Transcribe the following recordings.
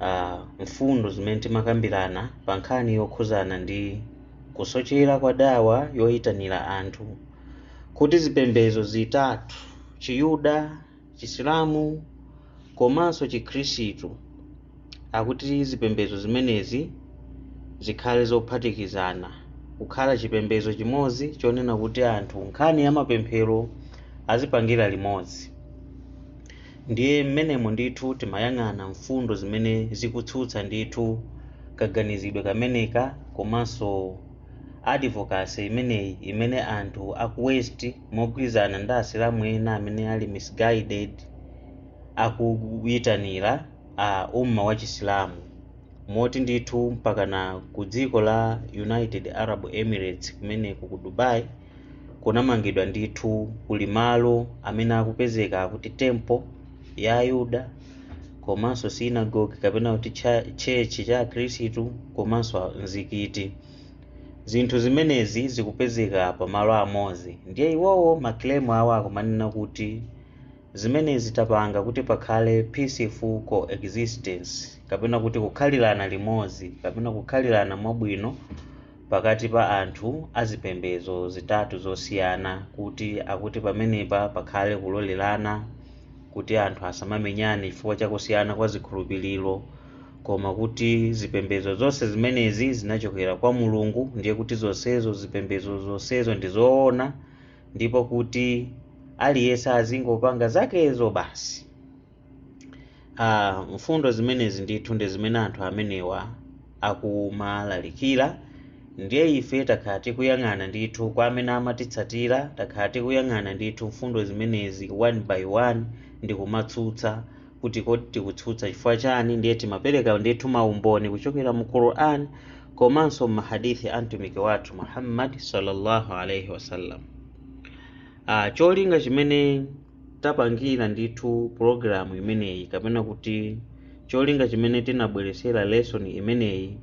uh, mfundo zimene timakambirana pa nkhani yokhuzana ndi kusochera kwa dawa yoyitanira anthu kuti zipembedzo zitatu chiyuda chisilamu komanso chikhristu akuti zipembedzo zimenezi zikhale zophatikizana kukhala chipembedzo chimodzi chonena kuti anthu nkhani ya mapemphero azipangira limodzi Ndiye m'menemo ndithu timayang'ana mfundo zimene zikutsutsa ndithu kaganizidwe kameneka komanso advocacy imeneyi imene anthu aku west mogwirizana ndi asilamu ena amene ali misguided akuyitanira a umma wa chisilamu moti ndithu mpakana ku dziko la United Arab Emirates kumeneku ku Dubai kunamangidwa ndithu kuli malo amene akupezeka akuti temple ya ayuda komanso sinagogi kapena kuti tchetchi cha akhristu komanso mzikiti zinthu zimenezi zikupezeka pa malo amodzi ndiye iwowo maclaim awo akumanena kuti zimenezi tapanga kuti pakhale peaceful coexistence kapena kuti kukhalirana limodzi kapena kukhalirana mwabwino pakati pa anthu a zipembedzo zitatu zosiyana kuti akuti pamenepa pakhale kulolerana kuti anthu asamamenyane chifukwa cha kusiyana kwa zikhulupiriro koma kuti zipembedzo zonse zimenezi zinachokera kwa mulungu ndiye kuti zonsezo zipembedzo zonsezo ndi zoona ndipo kuti aliyense azingopanga zakezo basi Ah, mfundo zimenezi ndithu ndi zimene anthu amenewa akumalalikira ndiye ife takhala tikuyang'ana ndithu kwa amene amatitsatira takhala tikuyang'ana ndithu mfundo zimenezi one by one ndi kumatsutsa kuti kodi tikutsutsa chifukwa chani ndiye timapereka ndithu maumboni kuchokera mu quran komanso m'mahadithi a mtumiki wathu muhammad sallallahu alaihi wasallam ah, cholinga chimene tapangira ndithu pulogalamu imeneyi kapena kuti cholinga chimene tinabweretsera lesson imeneyi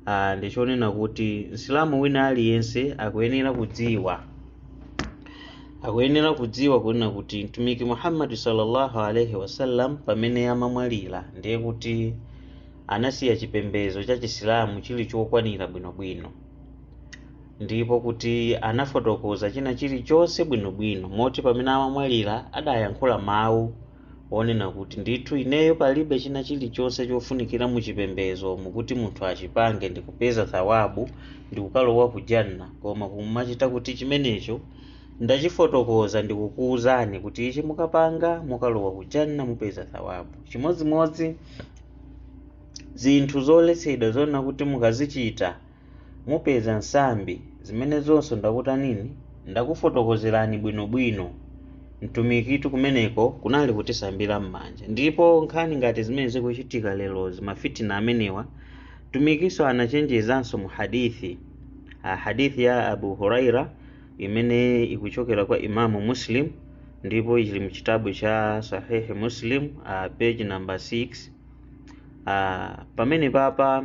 ah, ndi chonena kuti msilamu wina aliyense akuyenera kudziwa kunena kuti mtumiki muhammadi sallallahu alaihi wasallam pamene amamwalira ndiye kuti anasiya chipembedzo cha chisilamu chili chokwanira bwinobwino ndipo kuti anafotokoza china chilichonse bwinobwino moti pamene amamwalira adayankhula mawu onena kuti ndithu ineyo palibe china chilichonse chofunikira mu chipembezo mukuti munthu achipange ndikupeza thawabu ndikukalowa ku janna koma kuti chimenecho ndachifotokoza ndikukuwuzani kuti ichi mukapanga mukalowa ku janna mupeza thawabu chimodzimodzi zinthu zoletsedwa zonena kuti mukazichita mupeza nsambi zimenezonso ndakutanini ndakufotokozerani bwino bwino mtumikitu kumeneko kunali kutisambira m'manja ndipo nkhani ngati zimene zikuchitika lerozi mafitina amenewa mtumikinso anachenjezanso mu hadithi ah, hadithi ya abu huraira imene ikuchokera kwa imamu muslim ndipo ili mu chitabu cha sahihi muslim ah, page number 6 ah, pamene papa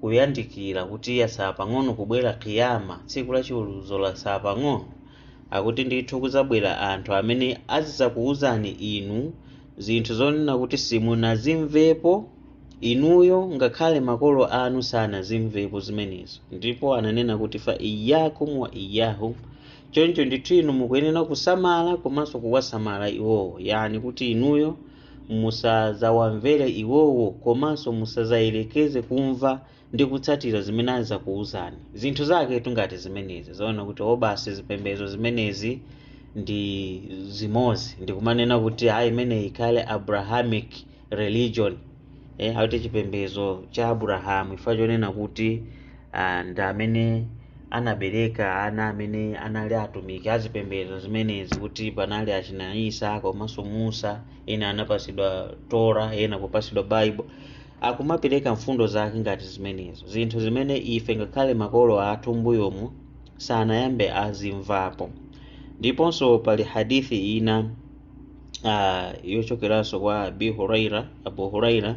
kuyandikira kuti yatsala pang'ono kubwera kiyama tsiku la chiweruzo latsala pang'ono akuti ndithu kuzabwera anthu amene azidzakuwuzani inu zinthu zonena kuti simunazimvepo inuyo ngakhale makolo anu sanazimvepo zimenezo ndipo ananena kuti fa iyakum wa iyahum choncho ndithu inu mukuyenera kusamala komanso kuwasamala iwowo yani kuti inuyo Musadzawamvere iwowo komanso musadzayerekeze kumva ndi kutsatira zimene azidzakuuzani. Zinthu zaketu ngati zimenezi zonena kuti o basi zipembedzo zimenezi ndi zimodzi ndi kumanena kuti ayi imeneyi ikhale Abrahamic religion, eh, akuti chipembedzo cha Abulahamu chifukwa chonena kuti ah, ndi amene anabereka ana amene anali atumiki azipembedzo zimenezi kuti panali achina isa komanso musa ena anapasidwa tora ena kupasidwa bible akumapereka mfundo zake ngati zimenezo zinthu zimene ife ngakhale makolo athu mbuyomu sanayambe azimvapo ndiponso pali hadithi ina uh, yochokeranso kwa abi huraira abu huraira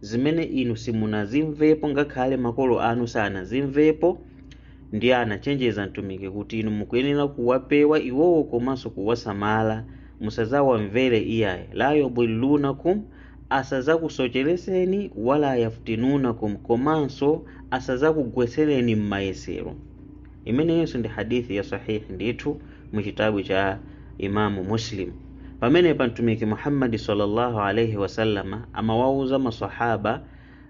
zimene inu simunazimvepo ngakhale makolo anu sanazimvepo ndiye anachenjeza mtumiki kuti inu mukuyenera kuwapewa iwowo komanso kuwasamala musazawamvere iyayi la yudhillunakum asazakusochereseni wala yaftinunakum komanso asazakugwetsereni m'mayesero imeneyinso ndi hadith ya sahihi ndithu mu chitabu cha imamu muslim pamenepa mtumiki muhammadi sallallahu alaihi wasallama amawauza masahaba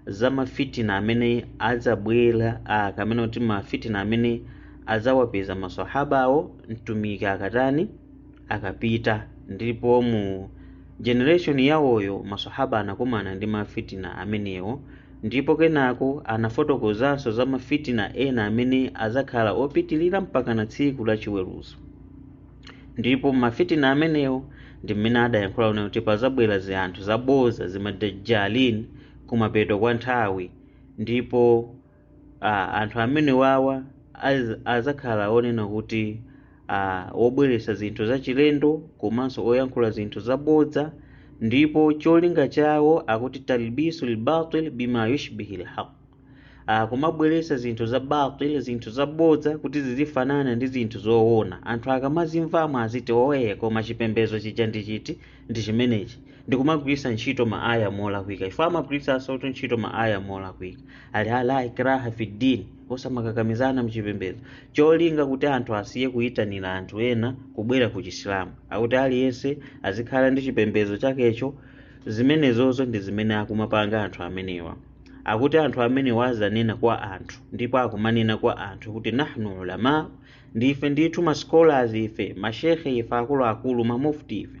za mafitina amene adzabwera ah, kamene kuti mafitina amene adzawapeza masahabawo mtumiki akatani akapita ndipo mu Generation yawoyo masahaba anakumana ndi ma fitina amenewo ndipo kenako anafotokozanso za ma fitina ena amene adzakhala opitilira mpakana tsiku la chiweruzo ndipo ma fitina amenewo ndi mmene adayankhula kunena kuti pazabwera zi anthu zabodza zima dajjalin kumapeto kwa nthawi ndipo Ah, anthu amene wawa az- azakhala onena kuti ah, wobweretsa zinthu zachilendo komanso oyankhula zinthu zabodza ndipo cholinga chawo akuti talbisu lbatil bima yushbihi lhaq ah, kumabweretsa zinthu za batil zinthu zabodza kuti zizifanana ndi zinthu zoona anthu akamazimvamo aziti oye koma chipembedzo chija ndi chichi ndi chimenechi ndikumagwiritsa ntchito ma aya molakwika chifukwa amagwiritsansotu ntchito ma aya molakwika ali la ikraha fi din osamakakamizana mchipembedzo cholinga kuti anthu asiye kuyitanira anthu ena kubwera ku chisilamu akuti aliyense azikhala ndi chipembedzo chakecho zimenezozo ndi zimene akumapanga anthu amenewa akuti anthu amenewa azanena kwa anthu ndipo akumanena kwa anthu kuti nahnu ulama ndife ndithu ma scholars ife mashekhe ife akuluakulu ma mufti ife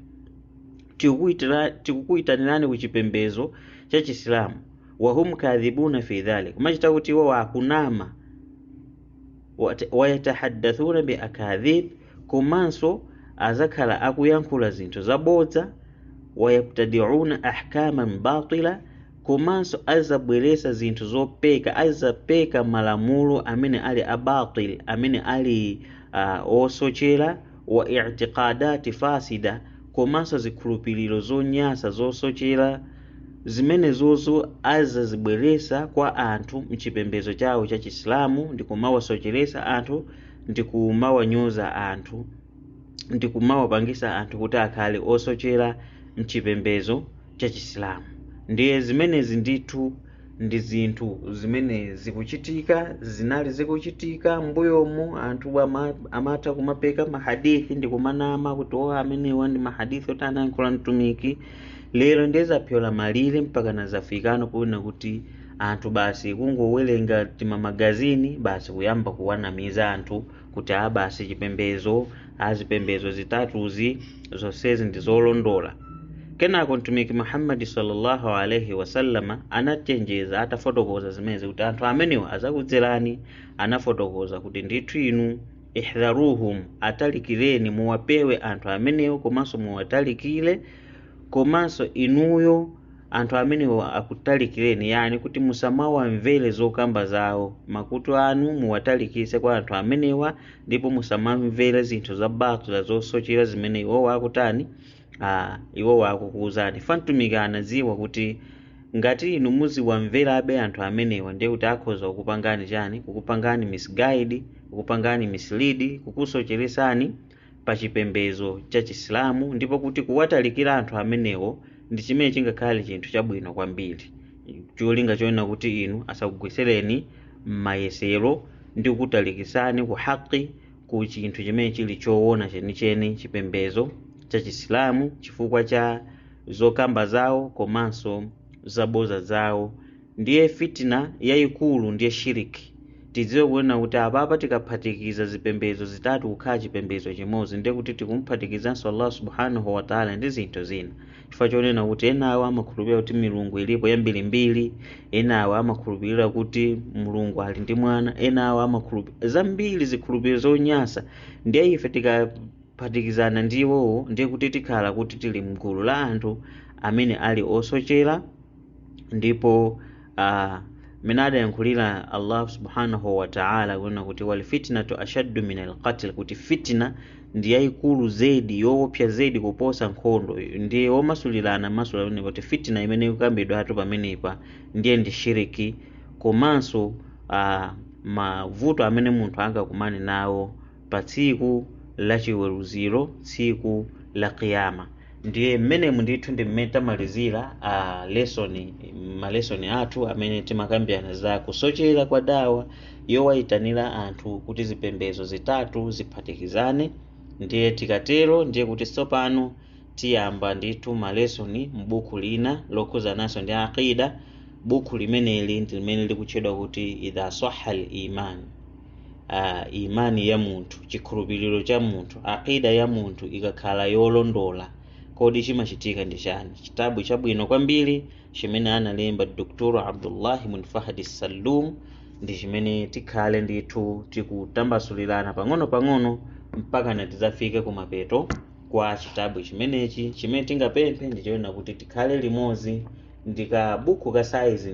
tikukuitira- tikukuitanirani ku chipembedzo cha chisilamu wahum kadhibuna fi dhalik kumachita kuti iwo akunama Wat- wayatahaddathuna bi akadhib komanso azakhala akuyankhula zinthu zabodza wayabtadiuna ahkaman batila komanso azabweretsa zinthu zopeka azapeka malamulo amene ali abatil amene ali uh, osochera wa i'tiqadati fasida komanso zikhulupiriro zonyasa zosochera zimenezozo azazibweretsa kwa anthu mchipembedzo chawo cha chisilamu ndi kumawasocheretsa anthu ndi kumawanyoza anthu ndi kumawapangisa anthu kuti akhale osochera mchipembedzo cha Chisilamu. Ndiye zimenezi ndithu ndi zinthu zimene zikuchitika, zinali zikuchitika mbuyomu. Anthu ama- amatha kumapeka mahadithi ndi kumanama kuti o amenewa ndi mahadithi oti anayankhula Mtumiki. Lero ndiye zapyola malire mpakana zafikano ponena kuti anthu basi kungowerenga timamagazini basi kuyamba kuwanamiza anthu kuti a basi chipembedzo a zipembedzo zitatuzi zonsezi ndi zolondola kenako mtumiki muhammadi sallallahu alaihi wasallama anachenjeza atafotokoza zimenezi kuti anthu amenewa azakudzerani anafotokoza kuti ndithu inu ihdharuhum atalikireni muwapewe anthu amenewo komanso muwatalikire komanso inuyo anthu amenewo akutalikireni yani kuti musamawamvere zokamba zawo makutu anu muwatalikise kwa anthu amenewa ndipo musamamvere zinthu za batila zosochera zimene iwowo akutani ah, iwowo akukuwuzani fa mtumiki anadziwa kuti ngati inu muziwamverabe anthu amenewa ndiye kuti akhoza kukupangani chani kukupangani misguide kukupangani mislead kukusocheretsani pa chipembedzo cha chisilamu ndipo kuti kuwatalikira anthu amenewo ndi chimene chingakhale chinthu chabwino kwambiri cholinga chonena kuti inu asakugwesereni m'mayesero ndi kukutalikisani ku haqi ku chinthu chimene chili choona chenicheni chipembedzo cha chisilamu chifukwa cha zokamba zawo komanso zaboza zawo Ndiye fitna yayikulu ndiye shirk. Tidziwe kunena kuti apapa tikaphatikiza zipembedzo zitatu kukhala chipembedzo chimodzi ndiye kuti tikumuphatikizanso Allah subhanahu wa ta'ala ndi zinthu zina. Chifukwa chonena kuti enawo amakhulupirira kuti milungu ilipo yambirimbiri, enawo amakhulupirira kuti Mulungu ali ndi mwana, enawo amakhulupirira zambiri zikhulupiriro zonyasa. Ndiye ife tikaphatikizana ndi iwowo ndiye kuti tikhala kuti tili mgulu la anthu amene ali osochera ndipo uh, mmene adayankhulira allah subhanahu wa ta'ala kunena kuti walfitnatu ashaddu min alqatl kuti fitina ndi yayikulu zedi yoopsa zedi kuposa nkhondo ndiye womasulira anamasulira kunena kuti fitina imene ikukambidwatu pamenepa ndiye ndi shiriki komanso uh, mavuto amene munthu angakumane nawo pa tsiku la chiweruziro tsiku la kiyama ndiye mmenemu ndithu ndi mmene tamalizira a lesoni malesoni athu amene timakambirana za kusochera kwa dawa yowayitanira anthu kuti zipembedzo zitatu ziphatikizane ndiye tikatero ndiye kuti tsopano tiyamba ndithu malesoni m'buku lina lokhuzananso ndi aqida buku limeneli ndi limene likutchedwa kuti idha sahha al iman uh, imani ya munthu chikhulupiriro cha munthu aqida ya munthu ikakhala yolondola kodi chimachitika ndi chani chitabu chabwino kwambiri chimene analemba dr abdullah ibn fahd salum ndi chimene tikhale ndithu tikutambasulirana pang'ono pang'ono mpakana tidzafike kumapeto kwa chitabu chimenechi chimene tingapemphe ndi chonena kuti tikhale limodzi ndi kabuku ka saizi